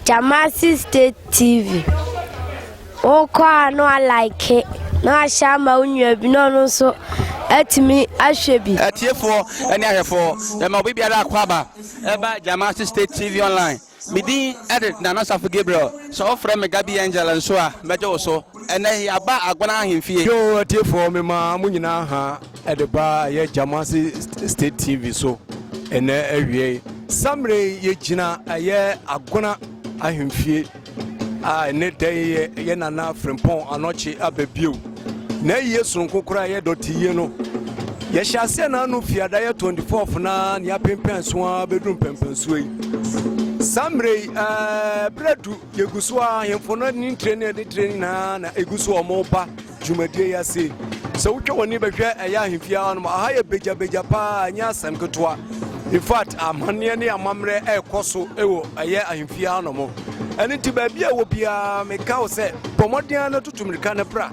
Jamasi State TV wokɔ a na walike na wahyɛ ama wo nua bi na ɔno nso atumi ahwɛ bi atiefoɔ ne ahwɛfoɔ yɛma obi biara akɔ aba Ɛba Jamasi State TV Online. Me din de Nana Safo Gabriel. Sɛ wɔfrɛ me Gabi Angel nso a, mɛgye wo so. Ɛnnɛ yi, yɛaba Agona Ahemfie. Yo atiefoɔ, mema mo nyinaa ha de ba yɛ Jamasi State TV so ɛnnɛ awiei. Saa mmerɛ yi, yɛgyina ɛyɛ Agona Ahemfie. a ɛne dɛn yɛ yɛ nana frempɔn anɔkye aba bio na ɛyɛ soronko koraa yɛ dɔte yie no yɛhyɛ aseɛ na ano fie adayɛ 24 na ne apempɛn so a bɛduru mpɛmpɛnsuo yi saa mmerɛ yi berɛ du yɛgu so a ahemfo no ne ntire ne ɛde tire nyinaa na ɛgu so ɔmo ba dwumadie yi ase. Sɛ wotwa w'ani bɛhwɛ ɛyɛ ahemfie ha nom aha yɛ begyabegya paa ɛnyɛ asɛm ketewa infact amanneɛ ne amammerɛ ɛrekɔ so wɔ ɛyɛ ahemfie ha nom ɛno nti baabi a ɛwɔ biara meka wo sɛ bɔ mmɔden no tutu mmirika no pra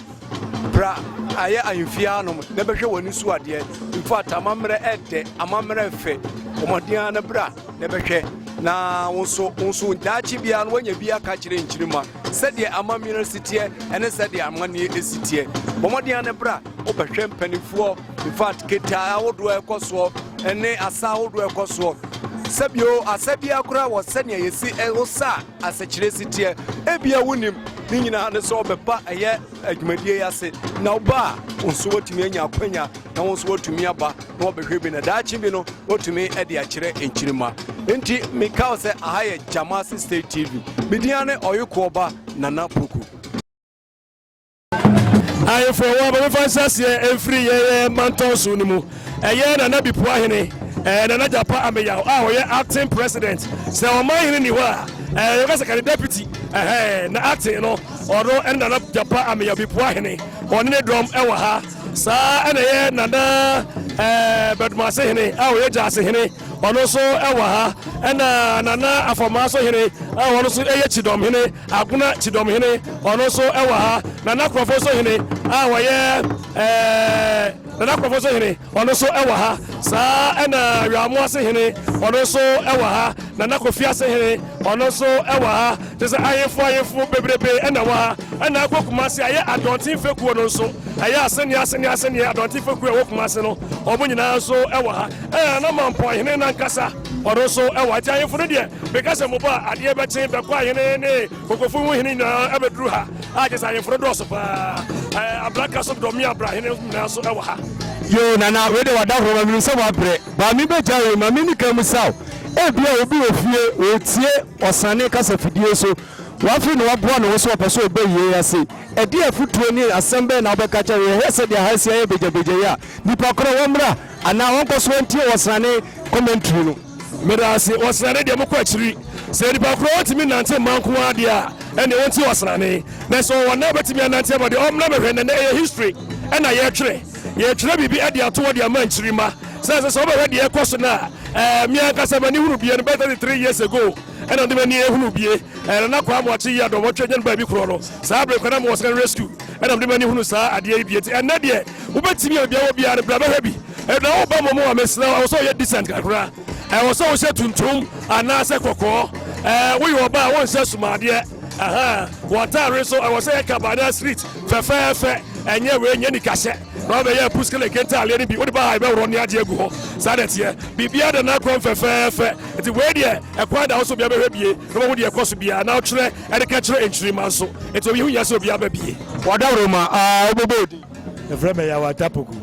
pra ɛyɛ ahemfie ha nom na bɛhwɛ w'ani so adeɛ infact amammerɛ ɛdɛ amammerɛ fɛ ɔmɔden no bra na bɛhwɛ na wo nso wo nso daakye biara no woanya bi aka kyerɛ nkyirima Sɛdeɛ amammerɛ si teɛ ɛne sɛdeɛ amanneɛ ɛsi teɛ. Bɔ mmɔden ara ne bra wobɛhwɛ mpanimfoɔ infact ketaa ahodoɔ ɛkɔ soɔ ɛne asa ahodoɔ ɛkɔ soɔ. Sɛbio asa biara koraa wɔ sɛdeɛ yɛsi ɛwosa a asɛkyerɛ si teɛ. Ebia wonim ne nyinaa ne sɛ ɔbɛba ɛyɛ dwumadie yi ase na woba a wo nso woatumi anya akwanya na wo nso woatumi aba na wɔbɛhwɛ bi na daakye bi no wotumi de akyerɛ nkyirima nti meka wo sɛ aha yɛ gyamase state tv media ne ɔyekoɔba nana poku ayefo ɛwɔ abɔmefa nhyɛseɛ ɛmfiri yɛyɛ mantɔn so no mu Ɛyɛ Nana Bipuahene, ɛɛ Nana Gyapa Ameyaw a ɔyɛ acting president. Sɛ ɔmanhene nni hɔ a, ɛɛ yɛbɛka sɛ kane deputy, ɛhɛɛ, na acting no, ɔno ɛne Nana Gyapa Ameyaw Bipuahene. Ɔne ne dɔm ɛwɔ ha. Saa ara na ɛyɛ Nana, ɛɛ Bɛdomasehene a ɔyɛ Gyasehene, ɔno nso ɛwɔ ha. Ɛna Nana Afɔmaasohene a ɔno nso ɛyɛ Kyidɔmhene, Agona Kyidɔmhene, ɔno nso ɛwɔ ha. Nana Korɔfosohene a ɔyɛ, ɛɛ. Nana Korɔfo so hene, ɔno nso wɔ ha. Saa ara na Weamu ase hene, ɔno nso wɔ ha. Nana Kofi ase hene, ɔno nso wɔ ha. Kyerɛ sɛ ahemfo ahemfo bebrebe na ɛwɔ ha. Ɛna akɔ Kumasi ayɛ Adɔnten fekuo no nso. Ɛyɛ asɛnneɛ asɛnneɛ asɛnneɛ Adɔnten fekuo a ɛwɔ Kumasi no, wɔn nyinaa nso wɔ ha. Ɛna Nana Mampɔn hene no ankasa, ɔno nso wɔ ha. Nti ahemfo no deɛ, meka sɛ mobɔ a, adeɛ bɛkye bɛkɔ ahene ne Fokofu ho hene nyinaa abɛduru ha a kyɛ sɛ ahemfo no dɔɔso paa. Abranka so dɔme abra hene nyinaa so wɔ ha. Yoo Nana wei deɛ wada hɔ ma menim sɛ woabrɛ but me bɛgya wei ma menni ka mu saw ebia obi wɔ fie ɔretie ɔsane kasa fidie so wafei na waboa ne ho so ɔpɛ sɛ ɔbɔ yei ase ɛdeɛn afotuo ne asɛm bɛn na wobɛka kyɛ no yɛhwɛ sɛdeɛ ha asi ayɛ begyabegya yi a nnipa korɔ wɔmmra anaa wɔnkɔ so ntie ɔsane commentary no. Meda ase. Ɔsrane deɛ, mokɔ akyiri. Sɛ nipa korɔ ɔntumi nnante mma nko ara deɛ a, ɛnneɛ ɔnti ɔsrane. Na sɛ ɔwɔ nan bɛtumi anante ama deɛ, ɔmmra mɛhwɛ. Nnɛ ɛyɛ history na yɛretwerɛ. Yɛretwerɛ biribi de ato hɔ de ama nkyirima. Sɛ ɛsɛ sɛ wobɛhwɛ deɛ ɛrekɔ so no a, ɛɛ, me ankasa m'ani hunu bie no bɛyɛ 33 years ago ɛna mede m'ani ahunu bie. Ɛɛ, Nana Kwaa Moakye Yiadom, wɔtwerɛ nya no baabi korɔ no. Saa bere koraa na mewɔ secondary school ɛna mede m'ani hunu saa adeɛ yi bie. Nti ɛnnɛ deɛ, wobɛtumi a baabi a wɔ biara no, bra bɛhwɛ bi. Ɛna wo ba mom a mesrɛ ɛwɔ sɛ ɔyɛ decent kakra ɛwɔ sɛ wohyɛ tuntum anaasɛ kɔkɔɔ ɛɛ woyɛ ɔba a wonhyɛ sumadeɛ ɛhɛ wɔtaare nso ɛwɔ sɛ yɛ kaba anaa street fɛfɛɛfɛ ɛnyɛ wei nyɛ nikahyɛ na wabɛyɛ puskele kentaaleɛ no bi wode ba ha ɛbɛworɔ ne adeɛ agu hɔ saa na ɛteɛ biribiara da n'akwan fɛfɛɛfɛ nti wei deɛ ɛkwan da wo so bia bɛhwɛ bie na wɔhu deɛ ɛkɔ so biara na wotwerɛ ɛde ka kyerɛ nkyirima nso nti obi ho nya sɛ obi aba bie wɔdaworoma a wobɛbɔ odin Yɛfrɛ me Yaw Atapoku.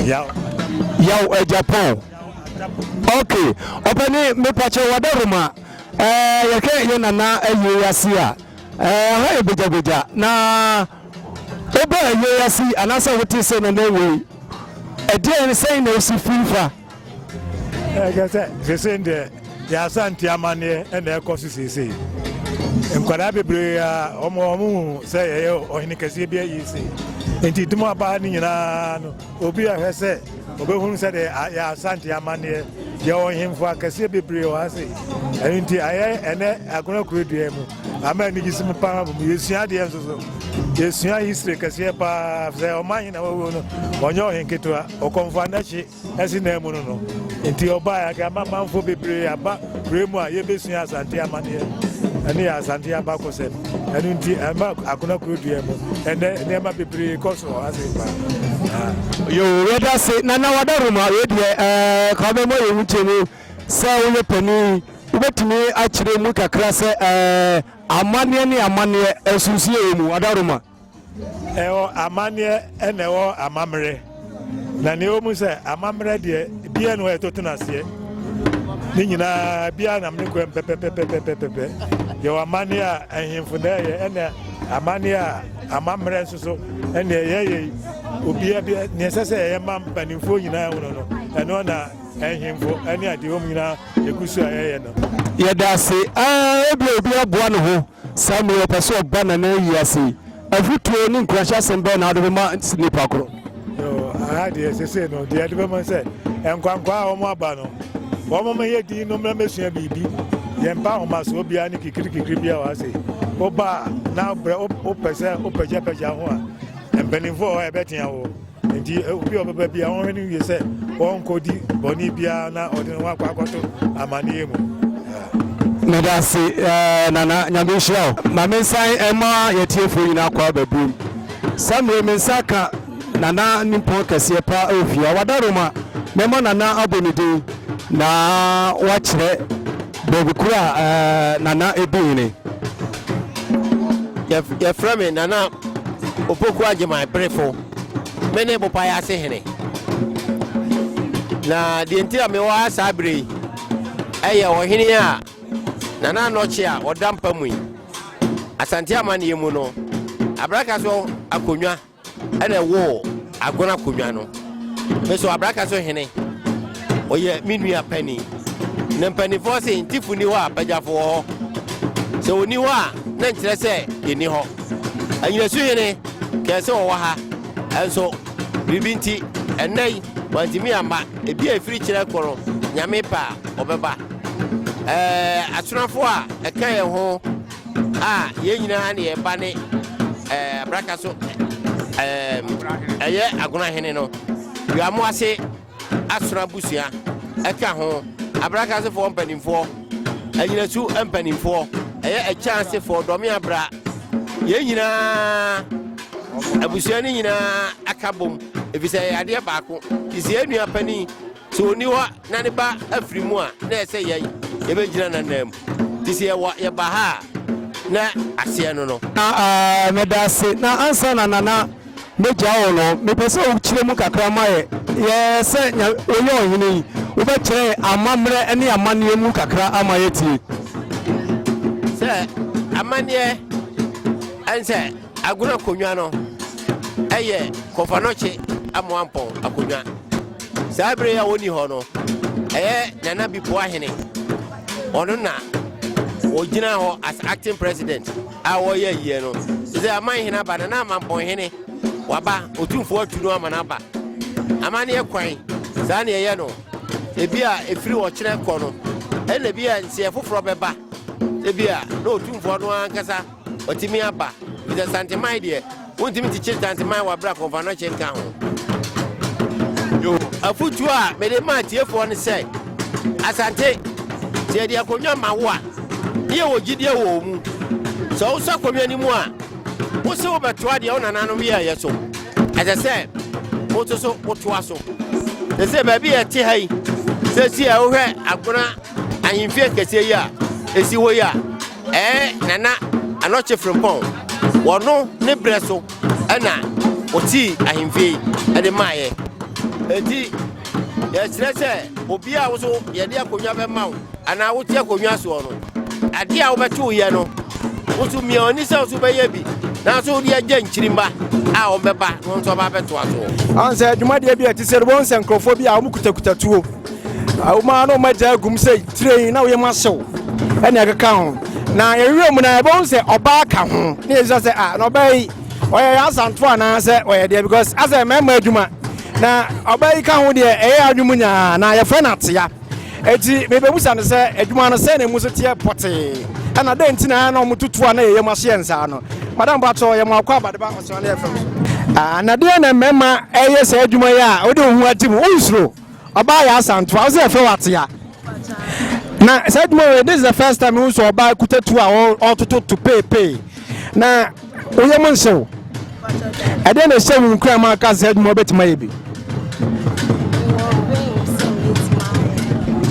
Yaw Atapoku. Yaw Ajapon. Ok, ɔpɛni mepakyɛ wada Roma. Eh, yɛhwɛ yɛ nana awie yɛase a, eh, ha yɛ gbagyagbaja. Na wobɛ awie yɛase anaasɛ wote sɛ nana wei. Ɛdeɛn sɛn na ɛsi firi fa? ɛkɛ sɛ sesei deɛ yɛasante amanneɛ ɛna ɛkɔ so seesei nkwadaa bebree a wɔn wɔn hu sɛ yɛyɛ ɔhene kɛseɛ bi ayi se nti dum abaa no nyinaa no obi ahwɛ sɛ obɛhunu sɛ deɛ yɛ asante amanneɛ yɛwɔ hemfo akɛseɛ bebree wɔ ha se ɛno nti ayɛ ɛnɛ agonakuro dua mu Ama anigye si mu paa wɔ mu. Yɛsua adeɛ nso so. Yɛsua history kɛseɛ paa sɛ ɔman he na wɔwuo no ɔnyɛ ɔhen ketewa ɔkɔmfo anakye asi nan mu no no nti ɔbaeɛ aka ama manfo bebree aba berɛ mu a yɛbɛsua asante amanneɛ ɛne yɛ asante abakɔsɛm ɛno nti ɛma akona kuro dua mu ɛnɛ nneɛma bebree kɔ so ase paa yɛwɔ wɛda se na na wada roma wedeɛ kɔbɛmɔ yɛwu gye mu Sɛ woyɛ panin yi, wobɛtumi akyerɛ mu kakra sɛ ɛɛ, amanneɛ ne amanneɛ, nsunsuye wɔ mu. Adaroma. Ɛwɔ amanneɛ ɛna ɛwɔ amammerɛ. Na nea ɛwɔ mu sɛ amammerɛ deɛ biara ne hɔ ɛto tena aseɛ. Ne nyinaa biara nam ne kwan pɛpɛpɛpɛpɛpɛpɛ. Yɛwɔ amanneɛ a ahemfo na ɛyɛ ɛna amanneɛ a amammerɛ nso so ɛna ɛyɛ yɛ. Obiara bi nea ɛsɛ sɛ ɛyɛ ma mpanimfoɔ nyinaa hono no ɛno na Nhemfo ne adihom nyinaa egu so a yɛyɛ no. Yɛda ase aa ebia obi aboa ne ho saa mu yi ɔpɛ sɛ ɔba Nana ayi ase yi afotuo ne nkuranhyɛ asɛm bɛn na wode bɛma nipa koro? Yoo aha deɛ sese no deɛ yɛde bɛma sɛ nkwankwa a wɔn aba no wɔn mo yɛ din no mmerɛ mɛsua biribi yɛn mpa ahomaso obiara ne kikiri kikiri bi a wɔ ase woba a na brɛ wopɛ sɛ wopɛgyapɛgya ho a mpanimfoɔ hɔ a ɛbɛtea wo Enti obi a ɔbɛba bi a ɔnhwɛ no wie sɛ ɔnkɔdi bɔne biara na ɔde ne ho akɔ akɔto amanneɛ mu. Meda ase eh, Nana Nyame nhyira o. Ma me nsan ɛma yɛtiefoɔ nyinaa kɔ aba biom. Saa mmerɛ me nsa ka Nana nimpɔn kɛseɛ pa ɛwɔ fie ha. Wada Roma, mɛma Nana abɔ ne din na wakyerɛ Baabi koro a eh, Nana Ebuhene. Yɛ yɛfrɛ me Nana Opoku Agyeman Berefo. Me ne Bopae ase hene. Na deɛ nti a mewɔ ha saa bere yi ɛyɛ ɔhene a Nana Anɔkye a ɔda mpa mu yi. Asante amanneɛ mu no, abraka so akonnwa ɛna ɛwoo Agona Konwa no. Me so Abraka so hene, ɔyɛ me nua pani. Na mpanimfoɔ se ntifo ni hɔ a bagyafo wɔ hɔ. Sɛ ɔni hɔ a na nkyerɛ sɛ yɛnni hɔ. Anyinasu hene kɛɛ sɛ ɔwɔ ha, ɛnso biribi nti ɛnnɛ yi wantumi amma. Ebi a ɛfiri kyerɛ kɔ no Nyame pɛ a ɔbɛba. Ɛɛ asonafoɔ a ɛka yɛn ho. a yɛn nyinaa ne yɛn ba ne ɛɛ abraka so ɛɛ ɛyɛ agona hene no wiamo ase asoro abusua ɛka ho abraka asefoɔ mpanimfoɔ anyinasu mpanimfoɔ ɛyɛ ɛkyɛn asefoɔ dɔme abra yɛn nyinaa abusua no nyinaa aka bom efisɛ ɛyɛ adeɛ baako te sɛ yɛn nua panin. Sɛ ɔnni hɔ na ne ba afiri mu a, na ɛsɛ sɛ yɛn, yɛbɛgyina n'ananmu. Nti sɛ yɛwɔ, yɛba ha a, na aseɛ no no. Na meda ase. Na ansa na Nana mɛgya wo no, mepɛ sɛ wokyerɛ mu kakra ma yɛ, yɛ sɛ Nya, woyɛ ɔhene yi, wobɛkyerɛ yɛ amammerɛ ne amanneɛ mu kakra ama yɛatie. Sɛ amanneɛ, ɛne sɛ. Agorɔ akonnwa no yɛ Kɔfanɔkye Amoampɔn akonnwa. Saa bere yi a wɔnni hɔ no, ɛyɛ Nana Bipo Ahene, ɔno na ɔgyina hɔ as acting president a wɔyɛ ayie no. Sɛ aman hene aba, Nana Amampɔn hene waba, ɔtumfoɔ atu no ama no aba. Amanneɛ kwan, saa na ɛyɛ no. Ebi a ɛfiri ɔkyerɛ kɔ no, ɛna bi a nseɛ foforɔ bɛba, ebi a na ɔtumfoɔ no ankasa Ɔtumi aba fita santeman deɛ wontumi kyekyere santeman wɔ abira kɔnfa no kyɛ nka ho. Yo, afutuo a mede maa tiefoɔ no sɛ, Asante, sɛ yɛde akonnwa ma wo a, ne yɛwɔ gyidie wɔ mu. Sɛ wosɔ akonnwa no mu a, wose wobɛtoa deɛ wo nananom yɛɛyɛ so. Ɛsɛ sɛ woto so wotoa so. Sɛ sɛ baabi a ɛte ha yi, sɛ si a wohwɛ agona ahemfie kɛseɛ yi a ɛsi hɔ yi a, Ɛɛ Nana Anɔkye Frimpong, wɔno ne berɛ so na ɔtii ahemfie yi de maeɛ. Enti yɛkyerɛ sɛ obi a wo nso yɛde akonnwa bɛma wo anaa wote akonnwa soɔ no, adeɛ a wobɛte woyɛ no, wo nso mia w'ani sɛ wo nso bɛyɛ bi nanso wode agya nkyirimma a wɔbɛba na wɔn nso aba abɛtoa soɔ. Ɔn sɛ dwumadeɛ bi a ɛte sɛ no, wobɛhu sɛ nkurɔfoɔ bi a wɔkutakuta tuo. Awoma no ma gya agum sɛ tirenn na woyam ahyew ɛne ɛkeka ho. Na yɛhwehwɛ mu na yɛbɛhu sɛ ɔbaa ka ho. Ne yɛsua sɛ ah na ɔbaa yi ɔyɛ asanto anaa sɛ ɔyɛ deɛ because asɛ mmarima adwuma na ɔbaa yi ka ho deɛ ɛyɛ adwene mu nyaa na yɛfrɛ no atea. Eti mebɛbusa no sɛ adwuma no sɛ na emu so teɛ pɔtee ɛna dɛn nti na na wɔn tutu a na yɛyam ahyeɛ nsaa no. Madam Patrɔ yɛ mo akɔ abadeba Ɔsrane FM so. Ah na deɛ na mmarima ɛyɛ saa adwuma yi a wode wo ho agye mu wonsuro? Ɔbaa yɛ asa ntoa ɔsɛ yɛfrɛ wo atea na saa adwuma wei this is the first time mehu sɛ ɔbaa kuta tu a ɔtoto to peepee na woyɛ mo nhyɛ wo ɛdeɛ na ɛhyɛ wo nkura ma aka sɛ adwuma wobɛtumi ayɛ bi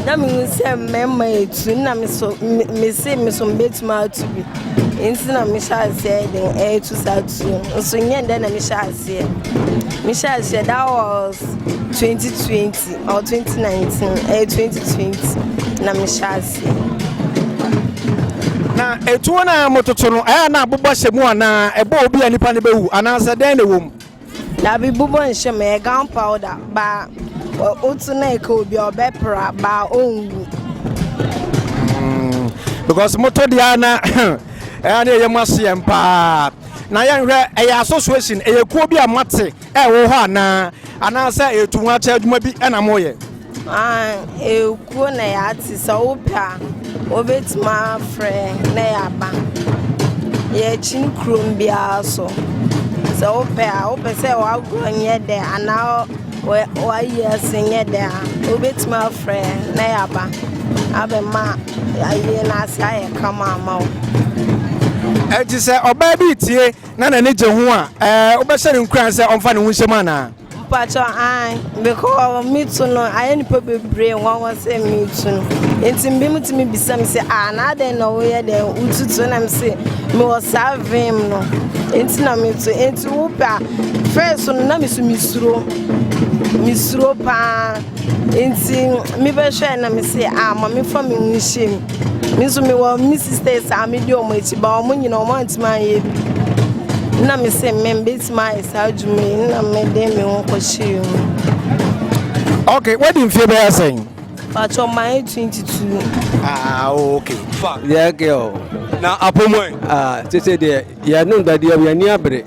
na mehu sɛ mmarima ɛtu na mese me so mbɛtumi atu bi nti na mehyɛ aseɛ de ɛtu saa tu nso nyɛ ndɛ na mehyɛ aseɛ Me hyɛ aseɛ that was 2020 or 2019 ɛyɛ 2020 na me hyɛ aseɛ. na etuo no a mototo no ɛyɛ na abobɔ hyɛ mu anaa ɛbɔ obi a nipa no bɛwu anaasɛ dɛn na ɛwɔ mu. dabi bobɔ nhyɛ mu ɛyɛ gown powder baa otu na ɛka obi a ɔbɛpra baa ɔnwu. Hmm, because moto deɛ na ɛyɛ na ɛyɛ mu aseɛ mpaa. Na yɛnhwɛ, ɛyɛ association, ɛyɛ kuo bi a moate ɛwɔ hɔ anaa? Anaasɛ ɛyɛ tu ho akyɛ adwuma bi na moyɛ? Ah, ɛyɛ kuo na yɛate, sɛ wopɛ a, wobɛtumi afrɛ na yɛaba. Yɛkyini kurom biara so. Sɛ wopɛ a, wopɛ sɛ w'agorɔ nyɛ dɛ anaa Wɔayi ase nyɛ dɛ a, wobetumi afrɛ na yɛaba abɛma ayie no ase ayɛ kama ama wo. Enti sɛ ɔbaa bi retie na n'ani gye ho a, ɛɛ, wobɛhyɛ no nkuran sɛ ɔmfa ne ho nhyem anaa? Mpakyɛw, ae, because metu no, ayɛ nnipa bebree nwanwa sɛ metu no. Enti binom tumi bisa me sɛ, ah, na adɛn na woyɛ dɛn wotutu? Na mese, mewɔ saa vim no, enti na metu. Enti wopɛ a, First no na mesu mesuro mesuro paa nti mebɛhwɛ na mese a ah, ma mefa me ho nhyɛ mu me nso mewɔ me sisters a medi wɔn akyi ba wɔn nyina wɔn antumi anyɛ bi na mese me mbɛtumi ayɛ saa adwuma yi na mede me ho kɔhyɛ mu okay wadi mfie bɛyɛ sɛn patɔ ma yɛ 22 ah okay fa yeah girl na apɔmɔ ah tete deɛ Yɛ no da deɛ yɛn ani abere.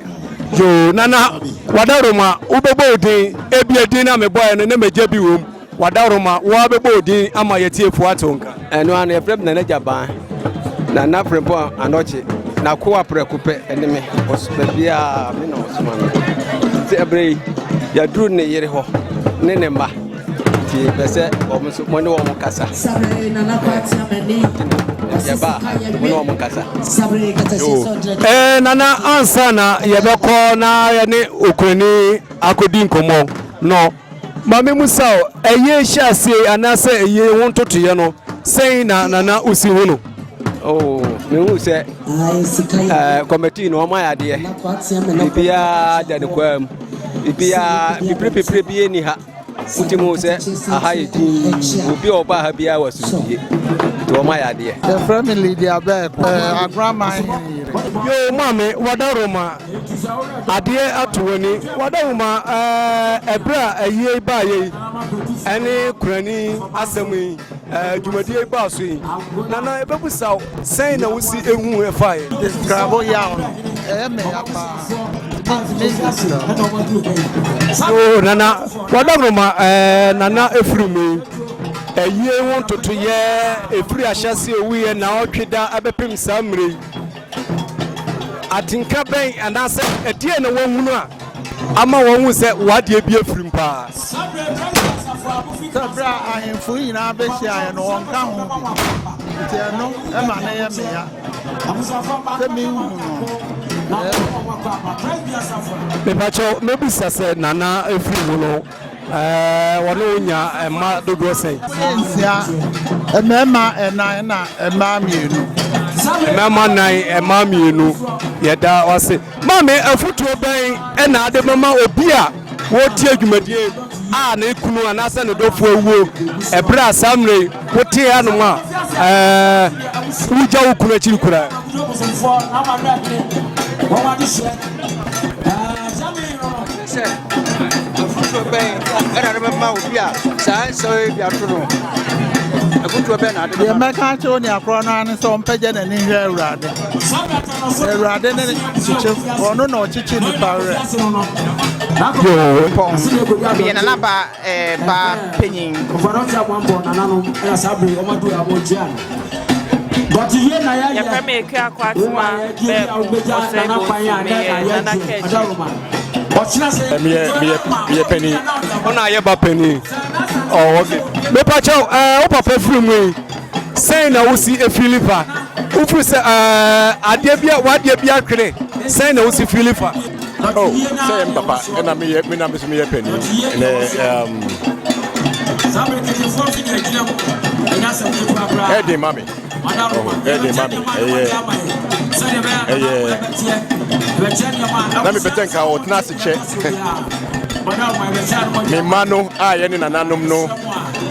Yoo nana wadaroma wo bɛbɔ odin ebi edin na me bɔɛ no na me gye bi wom wadaroma wo a bɛbɔ odin ama yɛ tiefo ato nka. Ɛno ara na yɛfrɛ me Nana Gyaban, Nana Frimpong Anokye, N'akoa prɛko pɛ ne me, ɔsoma biara me na ɔsoma me. Nti ɛberɛ yi yɛaduru ne yere hɔ ne ne mma. Nti mepɛ sɛ wɔn nso mo ne wɔn kasa. Yɛba a mo ne wɔn kasa. Ɛɛ nana ansa na yɛbɛkɔ na yɛne okurani akɔdi nkɔmmɔ no maame musa o ɛyɛ hyɛ aseɛ anaasɛ ɛyɛ ho ntotoyɛ no sɛn na nana osi ho no. Oh, mehu sɛ eh, kɔmɛtii no ɔma yɛ adeɛ biribiaa da ne kwaa mu biribiaa pipiripipiri bie ni ha Wotim o sɛ aha yɛ dinn, obi a ɔba ha biara wɔ asomdwie, nti wɔma yɛ adeɛ. Yɛfrɛ me Lydia Bɛɛ pɛɛ, Agoraman hene yere. Yoo maame wada roma adeɛ ato w'ani wada roma ɛɛ ɛberɛ a ayie baayɛ yi ɛne kurani asɛm yi. Ɛɛ dwumadie yi baa so yi nana ebɛbusa wo sɛn na wosi ehu ɛfa yɛ. Nkrabo yaw no ɛyɛ mɛ ya paa ntumi nka sira. So nana wɔdam no ma ɛɛ nana efiri mu yi ɛyie ho ntoto yɛ efiri ahyɛse owu yɛ na ɔtwe da ɛbɛpem saa mmerɛ yi. Atenka bɛn anaasɛ ɛdeɛn na wɔahunu a ama wɔahu sɛ w'adeɛ bi afirim paa? Sɛ berɛ a ahemfo nyinaa bɛhyiaeɛ no, wɔnka ho bi, nti ɛno ma no yɛ me ya sɛ menhu no. Mepakyɛw, mɛbisa sɛ Nana ɛfiri mu no, Ɛɛ, wɔne wo nya mma dodoɔ sɛn? Yɛ nsia, mmarima nnan ɛna mmaa mmienu. Mmarima nnan, mmaa mmienu. Yɛda wo ase. Maame, afotuo bɛn na wode bɛma obi a ɔretie dwumadie a ne kunu anaasɛ ne dɔfoɔ awuo, ɛberɛ a saa mmerɛ yi wote hanom a ɛɛ wogya wo kunu akyiri koraa? Sɛ afotuo bɛn ɛna no bɛma obi a saa nsɛm yi bi ato no? Afotuo bɛn na ade bɛma? Deɛ mɛka akyerɛ onua korɔ no ara ne sɛ ɔmpɛgya n'ani nhwɛ Awurade. Awurade ne kyekye, ɔno na ɔkyekye nnipa werɛ. Yehowa, deɛ nanabaa baa panyin. Yɛfrɛ me Eke Akwatuma Bɛɛko Ɔsɛe Bonsu meyɛ Nana Kɛkyi. Meyɛ panyin. Ɔna ayɛ ba panyin. Oh, okay. Mepa kyɛw, ɛɛ wo papa firi mu yi sɛn na wosi efili fa? Wofiri sɛ ɛɛ adeɛ bi a wadeɛ bi atwene sɛn na wosi fili fa? Oh, sɛ yɛ me papa ɛna meyɛ me na me so meyɛ panin ne um, ɛden ma me ɛden ma me ɛyɛ ɛyɛ na mepɛtɛ nka ɔtena ase kyɛ me mma no a yɛne nananom no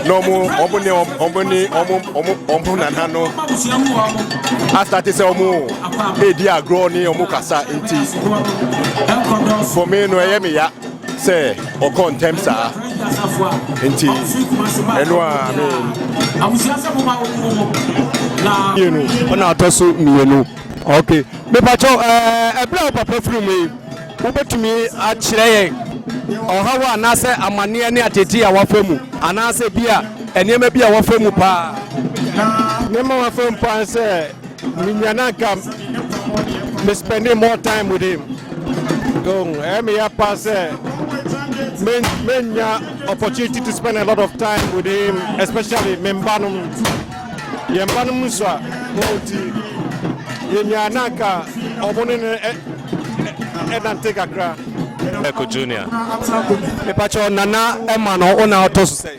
na ɔmo ɔmo ne ɔmo ne ɔmo ɔmo ɔmo nana no asate sɛ ɔmo redi agorɔ ne wɔn kasa nti, for me no ɛyɛ me ya sɛ ɔkɔ ntɛm saa nti ɛno a me mmienu ɔna atɔ so mmienu ok mepakyɛ ɛberɛ a wo papa firi mu yi wobɛtumi akyerɛ yɛn ɔhaw anaasɛ amanneɛ ne atete a wafa mu anaasɛ bi a nneɛma bi a wafa mu paa nneɛma wafa mu paa sɛ Me nua na nka me spending more time with him. Don't ɛyɛ me ya pa sɛ me me nya opportunity to spend a lot of time with him especially me mba nom. Yɛn mba nom nso a wɔn ti yɛ nua na nka wɔn ne no ɛnante kakra. Eko Junior. Mepakyɛ nana ɛma no wo na ɔtɔ so sɛ.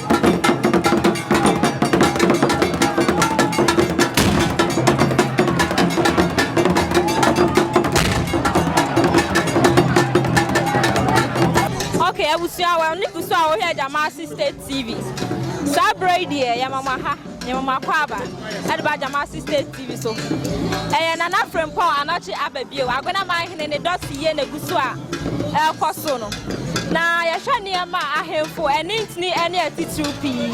abusua wɔn ne kusu a wɔhwɛ Jamasi State TV saa bere yi deɛ yɛ mama ha. Mema mo akwaaba de ba Jamasi State TV so. Ɛyɛ Nana Frimpong anɔkye aba bio. Aguenaman hene ne dɔ si yie na egu so a ɛrekɔ so no. Na yɛhwɛ nneɛma a ahemfo ani ntini ne atitiriw pii.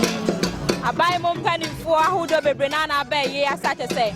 Aban mu mpanimfoɔ ahodoɔ bebree na na abɛn yei ase akyɛ sɛ.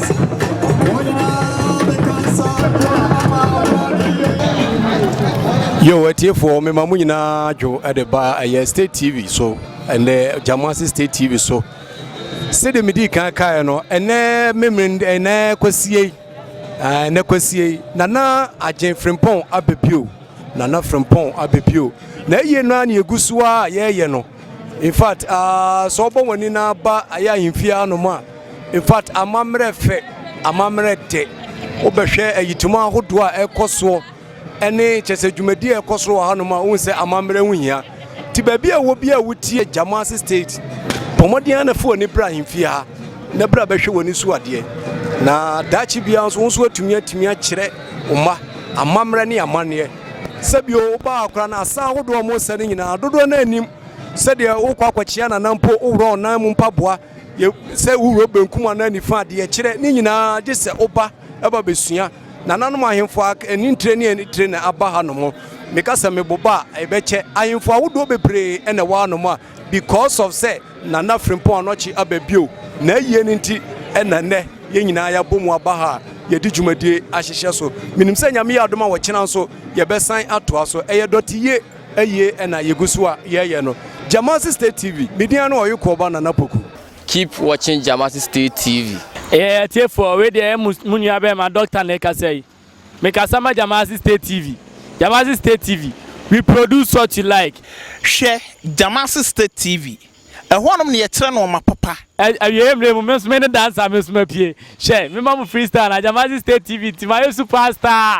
yo atiefoɔ mema mo nyinaa dwo de ba ɛyɛ state tv so ɛnɛ gyamase state tv so sɛdeɛ medi kan kaeɛ no ɛnɛ memene ɛnɛ kwasie ɛnɛ kwasie nana agyen frimpɔn abɛpio nana frimpɔn abɛpio na ɛyie no a ne ɛgu so a yɛyɛ no Infact aa sɛ ɔbɔ wɔn ani na aba ayɛ ahemfie ha nom a infact amammerɛ fɛ amammerɛ dɛ wobɛhwɛ ayitum ahodoɔ a ɛkɔ soɔ ɛne kyɛ sɛ dwumadie a ɛkɔ soɔ wɔ ha nom a wohu sɛ amammerɛ ho hia nti baabi a ɛwɔ bi a wotie Jamasi state bɔ mmɔden ara na fa w'ani bra ahemfie ha na bra bɛhwɛ w'ani so adeɛ na daakye biara nso wo nso atumi atumi akyerɛ wo mma amammerɛ ne amanneɛ Sɛ bio, wobaa akora no asa ahodoɔ a wɔsɛ no nyinaa, dodoɔ no ara nim sɛdeɛ wokɔ akɔkyea nana mpo, woworɔ wo nan mu mpaboa, yɛ sɛ woworɔ benkum anaa nifa, deɛ ɛkyerɛ, ne nyinaa gye sɛ woba ba bɛsua. Nananom ahemfo a aka, ani ntire ne ani tire na aba hanom. Meka sɛ meboba a, ɛbɛkyɛ. Ahemfo ahodoɔ bebree na ɛwɔ hanom a Because of sɛ Nana Frimpong anɔkye aba bio, n'ayie no nti na nnɛ yɛn nyinaa yɛabɔ mu aba ha a yɛde dwumadie ahyehyɛ so. Menim sɛ Nyame yɛ adom a ɔkyena nso yɛbɛsan atoa so. Ɛyɛ dɔteyie ayie na yɛgu so a yɛyɛ no. Gyamase State TV, me din ara ne Ɔyokoɔ ba Nana Poku. Keep watching Gyamase State TV. Eeii atiefoɔ, wei deɛ ɛyɛ mo nua bɛɛma Doctor na ɛkasa yi. Mekasa ma Jamasi State TV. Jamasi State TV, we produce such you like. Hwɛ Jamasi State TV. Ɛhɔnom na yɛkyerɛ nnoɔma papa. Awieɛ mmerɛ mu, me nso mene dancer me nso mapue. Hwɛ, mema mo freestyle na Jamasi State TV nti mayɛ super star.